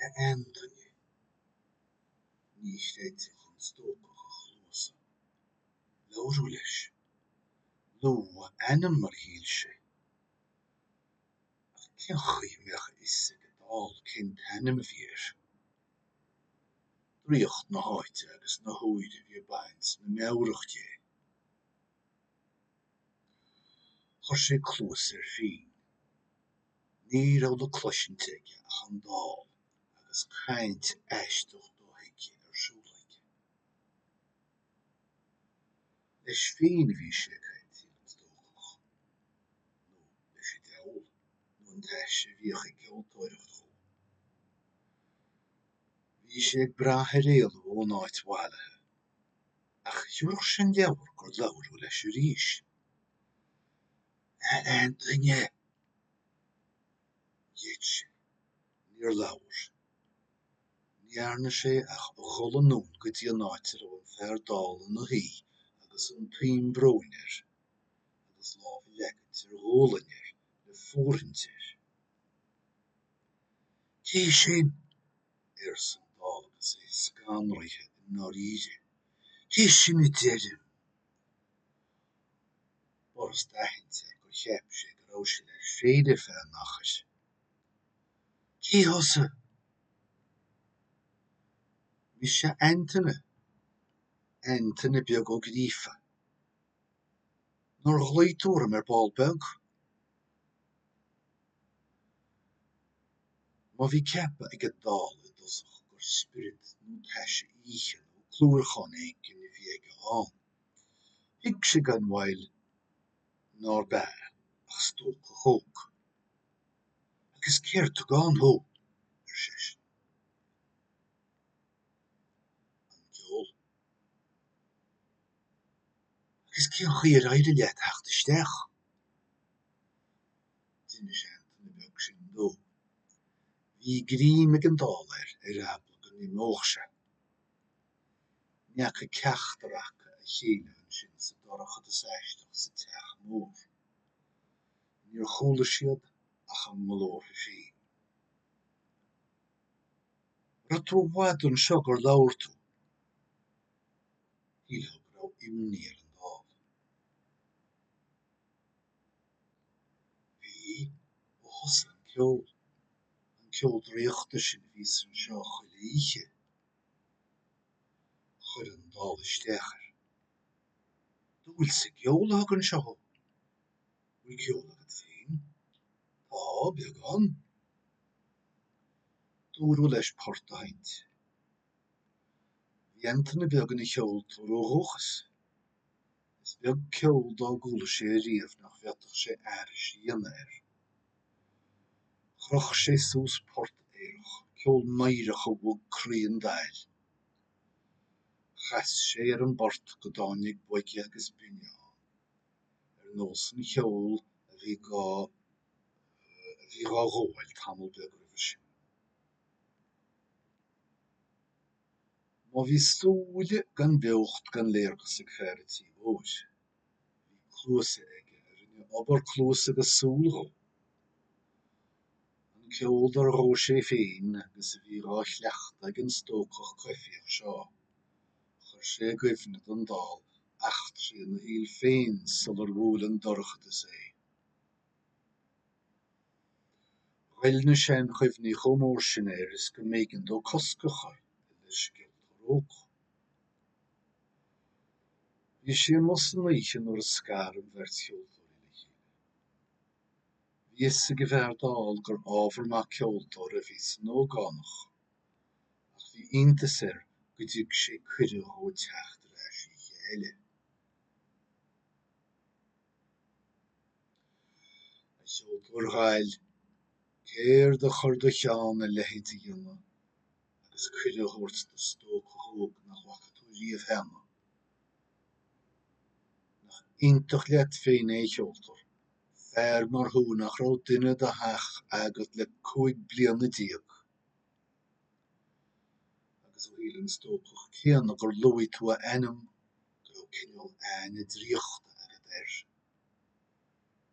A Antaine, ní chreidfeadh an stócach a chluasa. Labhradh leis. Luadh a ainm mar shíl sé. Ach cén chaoi a mbeadh a fhios ag an dall cén t-ainm a bhí air? Draíocht na háite agus na huaire a bhí ag baint na meabhrach de. Chuir sé cluas air féin. Ní raibh le cloisint aige ach an dall agus caint aisteach do-thuigthe ar siúl aige. Leis féin a bhí sé ag caint, dar leis an stócach. Nó leis an diabhal. Nó leis an taise a bhíodh ag ceoltóireacht dhó. Bhí sé ag brath ar éalú ón áit mhallaithe. Ach thiocfadh sin de bharr gur labhradh leis arís. A Antaine! Gheit sé. Níor labhair. Ní dhearna sé ach dhul anonn go dtí an áit a raibh an fear dall ina shuí agus an tuin bróin air, agus lámh a leagaint ar ghualainn air le fóirithint air. Cé sin? arsan Dall agus é scanraithe, i ndáiríre, cé sin a deirim? B'fhurasta aithint gur cheap sé go raibh sé leis féin ar feadh an achair. Cé thusa? Mise Antaine, Antaine Beag Ó Gríofa. Nár ghlaoigh tú orm ar ball beag? Má bhí ceapadh ag an dall i dtosach gur spiorad nó taise oíche nó clúmharcán éigin a bhí aige ann, thuig sé gan mhoill nárb ea ach stócach óg. Agus céard a thug ann thú? ar seisean. An ceol. Agus cén chaoi ar éirigh leat theacht isteach? D'inis Antaine Beag sin dó. Bhí greim ag an dall air ar eagla go n-imeodh sé. Ní fhaca ceachtar acu a chéile ansin sa dorchadas aisteach sa teach mór. Níor chuala siad ach a nglórtha féin. Raibh tú i bhfad anseo gur labhair tú? Shílfeá go raibh imní ar an dall. Bhí, ó thosaigh an ceol. An ceol draíochta sin a bhíos anseo chuile oíche, a chuir an dall isteach air. An dúil sa gceol a thug anseo thú? Bhfuil ceol agat féin? Tá, beagán. Dúradh leis port a sheinnt. Bhí Antaine Beag ina cheoltóir ó dhúchas. Is beag ceol dá gcuala sé ariamh nach bhféadfadh sé aithris a dhéanamh air. Chroch sé suas port aerach, ceol meidhreach a bhog croí an daill. Chas sé ar an bport go dtáinig boige agus binne ann, ar nós an cheoil a bhí a bhí dhá ghabháil tamall beag roimhe sin. Má bhí súile gan beocht gan léargas ag fear an tí mhóir, bhí cluasa aige a rinne obair cluas agus súl dhó. An ceol úd a ghabh sé féin agus a bhí dhá chleachtadh ag an stócach coimhthíoch seo, chuir sé i gcuimhne don dall eachtraí ina shaol féin sular bhuail an dorchadas é. Ghoill na seanchuimhní chomh mór sin air is go mb'éigean dó cosc a chur leis an gceoltóir óg. Bhí sé amuigh san oíche nuair a scar an bheirt cheoltóirí le chéile. Bhí fhios ag an bhfear dall gur ábhar maith ceoltóra a bhí san ógánach, ach bhí iontas air go dtug sé cuireadh dhó teacht ar ais oíche eile. A cheoltóir dhaill, céard a chuir i do cheann a leithéid a dhéanamh agus cuireadh a thabhairt do stócach óg nach bhfaca tú riamh cheana? Nach iontach leat féin é, a cheoltóir, fear mar thú nach raibh duine dhe theach agat le cúig bliana déag? Agus ó shíl an stócach céanna gur luaigh tú a ainm go raibh cineál aithne draíochta agat air,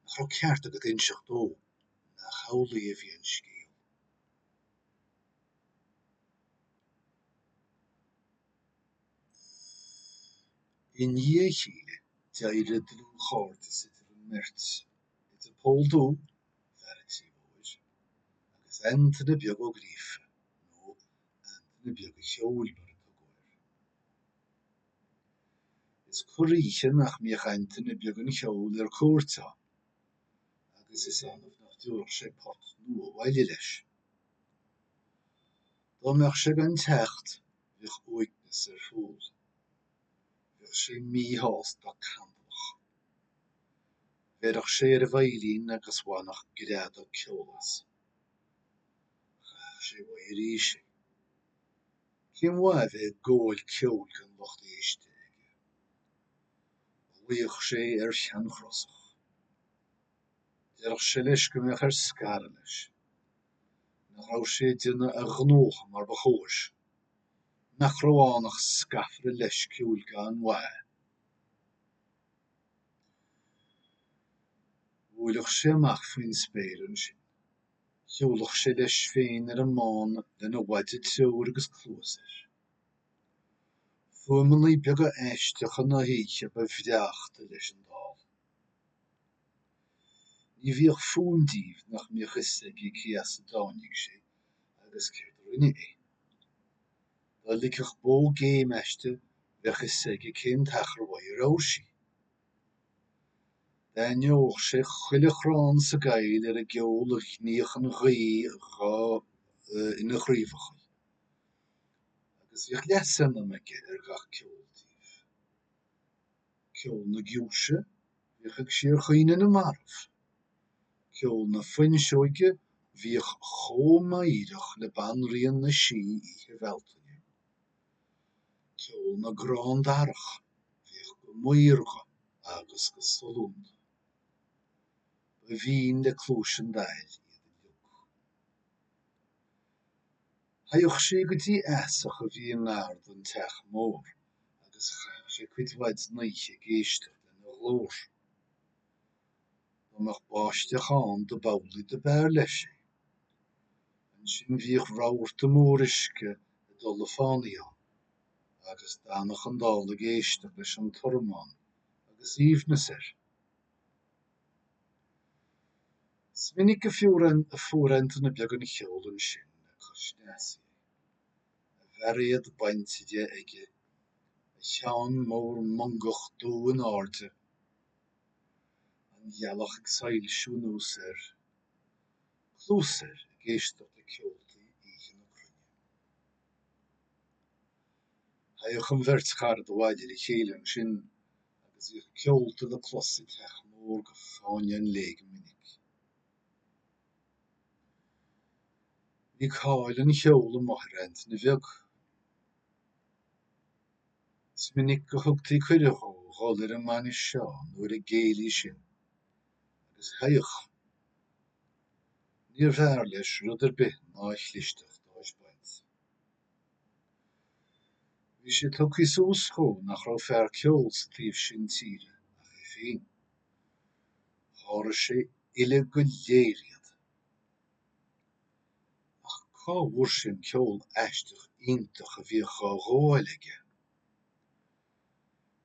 nach raibh ceart agat inseacht dó nach amhlaidh a bhí an scéal. I ndiaidh a chéile, d'éirigh dlúthchairdeas idir an mbeirt, idir Pól Dubh, fear an Tí Mhóir, agus Antaine Beag Ó Gríofa, nó Antaine Beag an Cheoil mar a tugadh air. Is corr-oíche nach mbíodh Antaine Beag an Cheoil ar cuairt ann, agus is annamh nach dtiúrfadh sé port nua abhaile leis. Dá mbeadh sé gan teacht, bheadh uaigneas ar Phól. Bheadh sé míshásta, cantalach. Bheirfeadh sé ar a veidhlín agus bhainfeadh greadadh ceoil as. Chaithfeadh sé uaidh arís é. Cén mhaith a bheith ag gabháil ceoil gan lucht éiste aige? Ghlaofadh sé ar sheanchrosach. Déarfadh sé leis go mbeadh air scaradh leis. Nach raibh sé ag déanamh a ghnótha mar ba chóir? Nach raibh ann ach scafaire leisciúil gan mhaith? Bhuailfeadh sé amach faoin spéir ansin. Shiúlfadh sé leis féin ar an mbán lena mhaide treoir agus cluas air. Fuaimeanna beaga aisteacha na hoíche ba bhreáchta leis an dall. Ní bhíodh fuaim díobh nach mbíodh fhios aige cé as a dtáinig sé agus céard a rinne é. Dá ligfeadh bó géim aisti bheadh fhios aige cén t-achar uaidh a raibh sí. D'aithneodh sé chuile chrann sa gcoill ar an gceol a ghníodh an ghaoth ina chraobhacha, agus bhíodh leasainm aige ar gach ceol díobh. Ceol na giúise, bhíodh ag síorchaoineadh na marbh. Ceol na fuinseoige, bhíodh chomh meidhreach le banríon na sí oíche Bhealtaine. Ceol na gcrann darach, bhíodh go maorga agus go sollúnta. Ba bhinn le cluais an Daill iad uilig. Théadh sé go dtí easach a bhí i ngar don teach mór agus chaitheadh sé cuid mhaith den oíche ag éisteacht lena ghlór. Dá mbeadh báisteach ann do b'amhlaidh do b'fhearr leis é. Ansin bhíodh rabharta mór uisce ag dul le fánaidh ann, agus d'fhanadh an dall ag éisteacht leis an tormán agus aoibhneas air. Is minic a fuair Antaine Beag an Cheoil ansin le cois an easaigh é, a bhairéad bainte de aige, a cheann mór mongach dubh in airde, An ghealach ag soilsiú anuas air. Cluas air ag éisteacht le ceoltaí oíche na cruinne. Théadh an bheirt charad abhaile le chéile ansin agus bhíodh ceolta le clos sa teach mór go fáinne an lae go minic. Bhí cáil an cheoil amuigh ar Antaine Bheag. Is minic a thugtaí cuireadh dhó dhul ar an mbainis seo nó ar an gcéilí sin, agus haioch! níorbh fhearr leis rud ar bith ná a chlisteacht a thaispeáint. Bhí sé tugthaí suas dhó nach raibh fear ceoil sa taobh sin tíre ach é féin. Sháraigh sé uile go léir iad. Ach cá bhfuair sé an ceol aisteach iontach a bhíodh á ghabháil aige?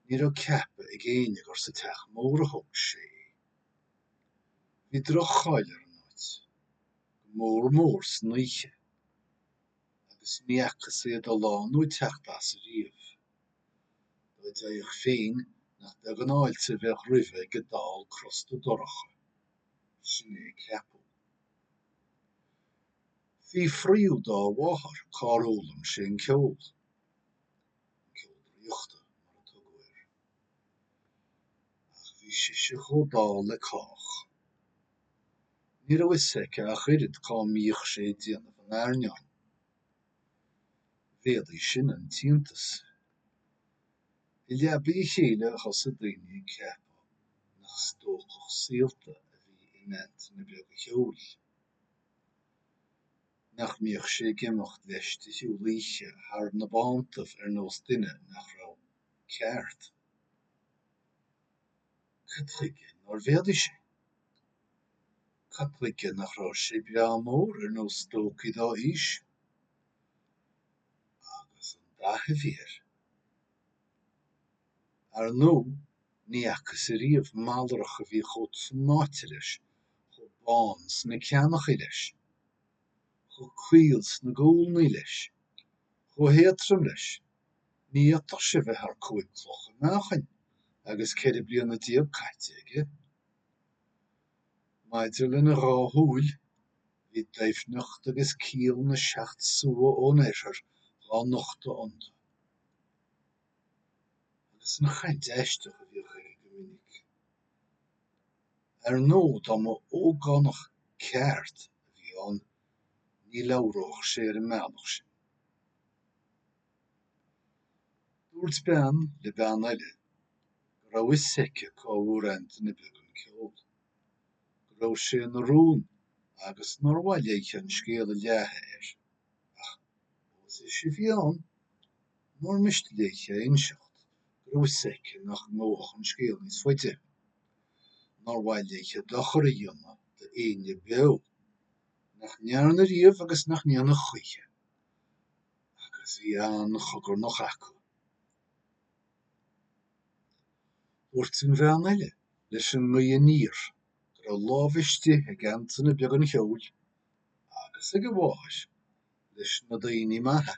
Ní raibh ceapadh ag éinne gur sa Teach Mór a thóg sé é. Bhí droch-cháil ar an áit, go mór mór san oíche, agus ní fhacthas é ag dul ann nó ag teacht as ariamh. Dá dtéadh féin, nach beag an fháilte a bheadh roimhe ag an dall crosta dorcha. Sin é a ceapadh. Fiafraíodh dá mháthair cár fhoghlaim sé an ceol, an ceol draíochta, mar a tugadh air. Ach bhí sise chomh dall le cách. Ní raibh fhios aici ach oiread cá mbíodh sé ag déanamh an airneáin. Mhéadaigh sin an t-iontas. I leabaidh a chéile thosaigh daoine ag ceapadh nach stócach saolta a bhí in Antaine beag an cheoil, nach mbíodh sé ag imeacht leis de shiúl oíche thar na bántaibh ar nós duine nach raibh ceart. Cad chuige nár mhéadaigh sé? Cad chuige nach raibh sé breá mór ar nós stócaí dá aois? Agus an dath a bhí air! Ar ndóigh, ní fhacas ariamh malrach a bhí chomh snoite leis, chomh bán sna ceannaghaidh leis, chomh caol sna gualnaí leis, chomh héadtrom leis. Ní fhéadfadh sé bheith thar cúig clocha meáchain agus ceithre bliana déag caite aige. Maidir lena dhá shúil, bhí doimhneacht agus ciall na seacht sua ón Oirthear dhá nochtadh iontu. Agus an chaint aisteach a bhíodh aige go minic. Ar ndóigh, dá mba ógánach ceart a bhí ann, ní labhródh sé ar an mbealach sin. Dúirt bean le bean eile go raibh 'fhios aici cá bhfuair Antaine beag an ceol, go raibh sé ina rún agus nár mhaith léi an scéal a leathadh air, ach ós ise a bhí ann, nár miste léi a inseacht go raibh 'fhios aici nach ngabhfadh an scéal níos faide. Nár mhaith léi dochar a dhéanamh d'aoinne beo, nach ndearna riamh agus nach ndéanfaidh choíche. agus bhí an-chogarnach acu. Dúirt an bhean eile leis an ngaoth aniar go raibh lámh istigh ag Antaine Beag an Cheoil, agus ag a mháthair, leis na daoine maithe,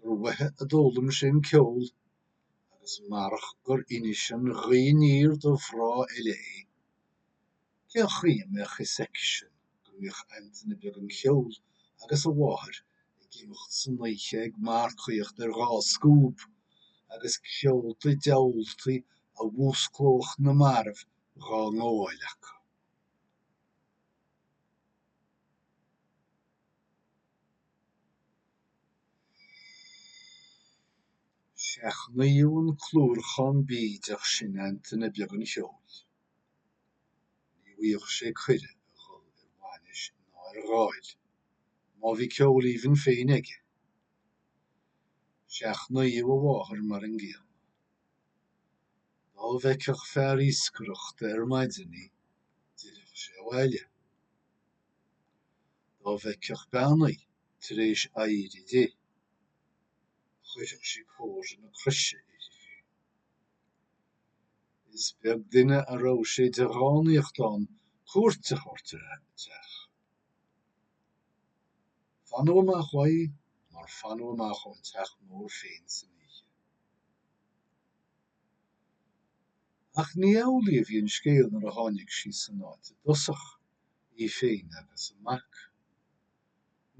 gur uathu a d'fhoghlaim sé an ceol, agus marach gur inis an ghaoth aniar do mhná eile é, Cén chaoi a mbeadh fhios aicisean go mbíodh Antaine Beag an Cheoil agus a mháthair ag imeacht san oíche ag marcaíocht ar dhá scuab agus ceoltaí diabhaltaí a mhúsclódh na mairbh dhá ngabháil acu. Seachnaíodh an clúrachán bídeach sin Antaine Beag an Cheoil. Ní bhfuigheadh sé cuireadh a dhul ar bhainis ná ar dháil, má bhí ceol aoibhinn féin aige. Seachnaíodh a mháthair mar an gcéanna. Dá bhfeicfeadh fear iascaireachta ar maidin í, d'fhillfeadh sé abhaile. Dá bhfeicfeadh bean í tar éis éirí di, chuirfeadh sí comhartha na croise uirthi féin. Is beag duine a raibh sé de dhánaíocht ann cuairt a thabhairt ar a dteach. Fanadh amach uaidh mar fanadh amach ón teach mór féin san oíche. Ach ní amhlaidh a bhí an scéal nuair a tháinig sí san áit i dtosach, í féin agus a mac.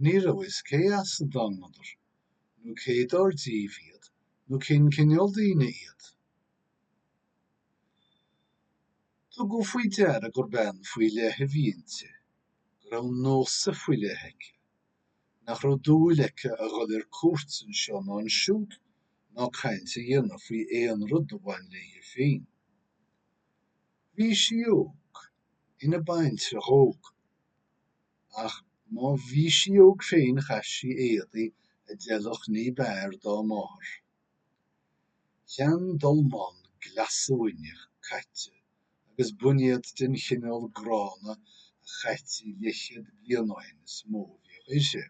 Ní raibh fhios cé as a dtángadar, nó cé dar díobh iad, nó cén cineál daoine iad. Tugadh faoi deara gur bean faoi leith a bhí inti, go raibh nósa faoi leith aici, nach raibh dúil aici a dhul ar cuairt anseo ná ansiúd ná caint a dhéanamh faoi aon rud a bhain léi féin. Bhí sí óg, ina baintreach óg. Ach má bhí sí óg féin chaith sí éadaí a d'fheilfeadh níb fhearr dá máthair. Seandolmán glasuaine caite agus boinéad den chineál gránna a chaití leathchéad bliain ó shin is mó a bhíodh uirthi.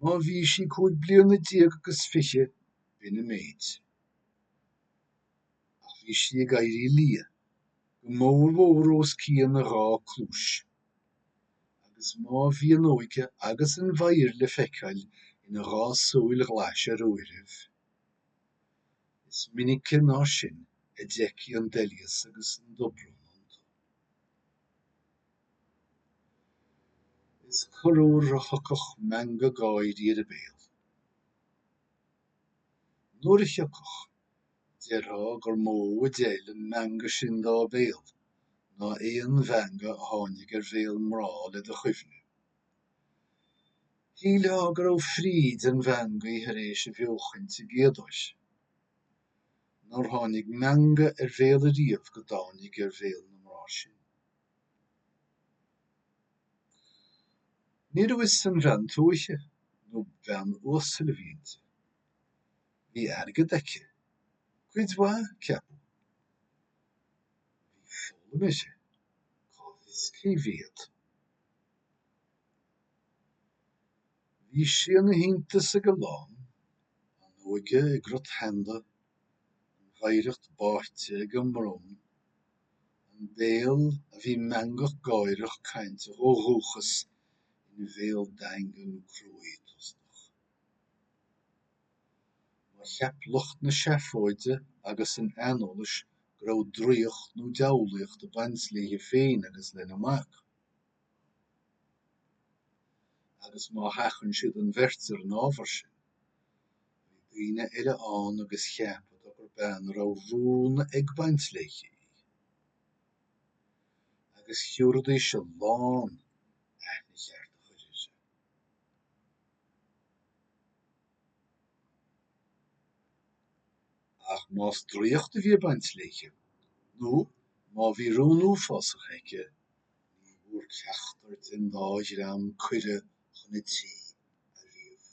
Má bhí sí cúig bliana déag agus fiche, b'in an méid. Ach bhí sí ag éirí liath, go mórmhór os cionn a dhá cluais. Agus má bhí an óige agus an mheidhir le feiceáil ina dhá súil ghlais ar uairibh, is minice ná sin a d'fheictí an doilíos agus an dobrón iontu. Is corruair a thiocfadh meangadh gáirí ar a béal. Nuair a thiocfadh, déarfá gur mó a d'fheil an meangadh sin dá béal ná aon mheangadh a tháinig ar bhéal mná le do chuimhne. Shílfeá go raibh fríd an mheangaidh thar éis a bheochaint i gcéadóir. Nár tháinig meangadh ar bhéal ariamh go dtáinig ar bhéal na mná sin. Ní raibh fhios an bhean tuaithe nó bean uasal a bhí inti. Bhí airgead aici, cuid mhaith, ceapadh. Bhí foghlaim uirthi, cá bhfios cé mhéad. Bhí sí ina hiontas ag a lán, an óige i gcrot sheanda, an mheidhreacht báite ag an mbrón, an béal a bhí meangach gáireach cainteach ó dhúchas ina bhéal daingean cruaidh tostach. Má cheap lucht na seafóide agus an aineolais go raibh draíocht nó diabhlaíocht ag baint léi féin agus lena mac, Agus má sheachain siad an bheirt ar an ábhar sin, bhí daoine eile ann agus cheapadar gur bean a raibh rún ag baint léi í. Agus thiúrfaidís a lán, aithne cheart a chur uirthi. Ach más draíocht a bhí ag baint léi, nó má bhí rún uafásach aici, Ní bhfuair ceachtar den dá dhream cuireadh chun a tí ariamh.